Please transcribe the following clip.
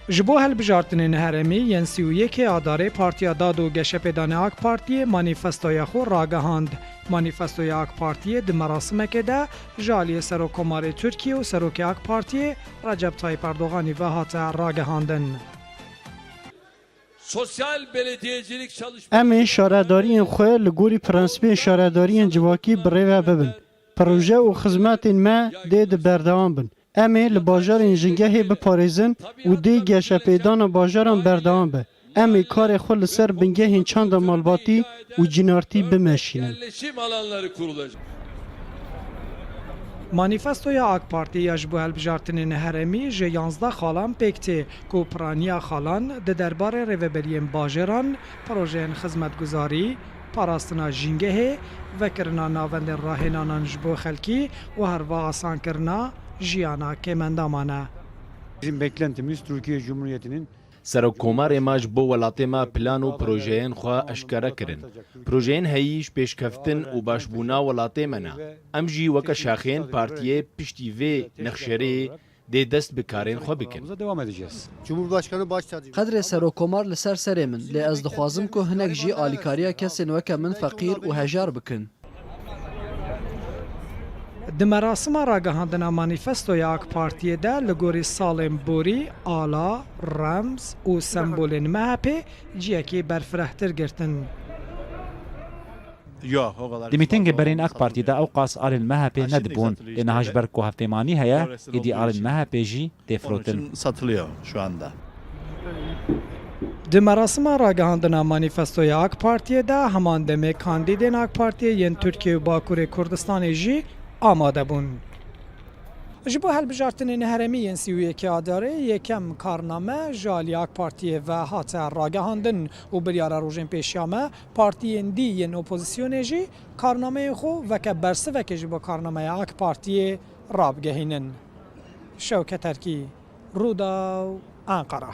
Ji bo hilbijartinên herêmî yên sî û yekê Adarê Partiya Dad û Geşepêdanê ak Partiyê manîfestoya xwe ragihand. Manîfestoya ak Partiyê di merasimekê de ji aliyê Serokkomarê Tirkiyê û Serokê ak Partiyê Recep Tayîp Erdoganî ve hate ragihandin. Em ê şaredariyên xwe li gorî prensîbên şaredariyên civakî birêve bibin. Proje û xizmetên me dê di berdewam bin. Em ê li bajarên jingehê biparêzin û dê geşepêdana bajaran berdewam be. Em ê karê xwe li ser bingehên çanda malbatî û cînartî bimeşînin. Manîfestoya AK Partî ya ji bo hilbijartinên herêmî ji yanzdeh xalan pêk tê ku piraniya xalan di derbarê rêveberiyên bajaran, projeyên xizmetguzarî, parastina jîngehê, vekirina navendên rahênanan ji bo xelkî û herva asankirina jiyana kêmendaman e. Bizim beklentimiz Türkiye Cumhuriyeti'nin. Serokkomarê ma ji bo welatê ma plan û projeyên xwe eşkere kirin. Projeyên heyî ji pêşkeftin û başbûna welatê me ne. Em jî weke şaxeyên partiyê piştî vê nexşerê Dê dest bi karên xwe bikin. Qedrê Serokomar li ser serê min, lê ez dixwazim ku hinek jî alîkariya kesên weke min feqîr û hejar bikin. Di merasima ragihandina manîfestoya AK Partiyê de li gorî salên borî, ala, remz û sembolên MHP'ê ciyekî berfirehtir girtin. Di mîtingê berên AK Partî de ewqas alên MHP'ê nedibûn lê niha ji ber ku hevpêmanî heye êdî alên MHP'ê jî tê firotin. Di merasima ragihandina manîfestoya AK Partiyê de heman demê kandîdên AK Partiyê yên Tirkiye û Bakurê Kurdistanê jî amade bûn. Ji bo hilbijartinên herêmî yên sî û yekê Adarê yekem karname ji aliyê AK Partiyê ve hate ragihandin û biryara rojên pêşiya me Partiyên dî yên opozisyonê jî karnameyên xwe weke bersivekê ji bo karnameya ak Partiyê rabigehînin. Şewket Erkî, Rûdaw, Enqera.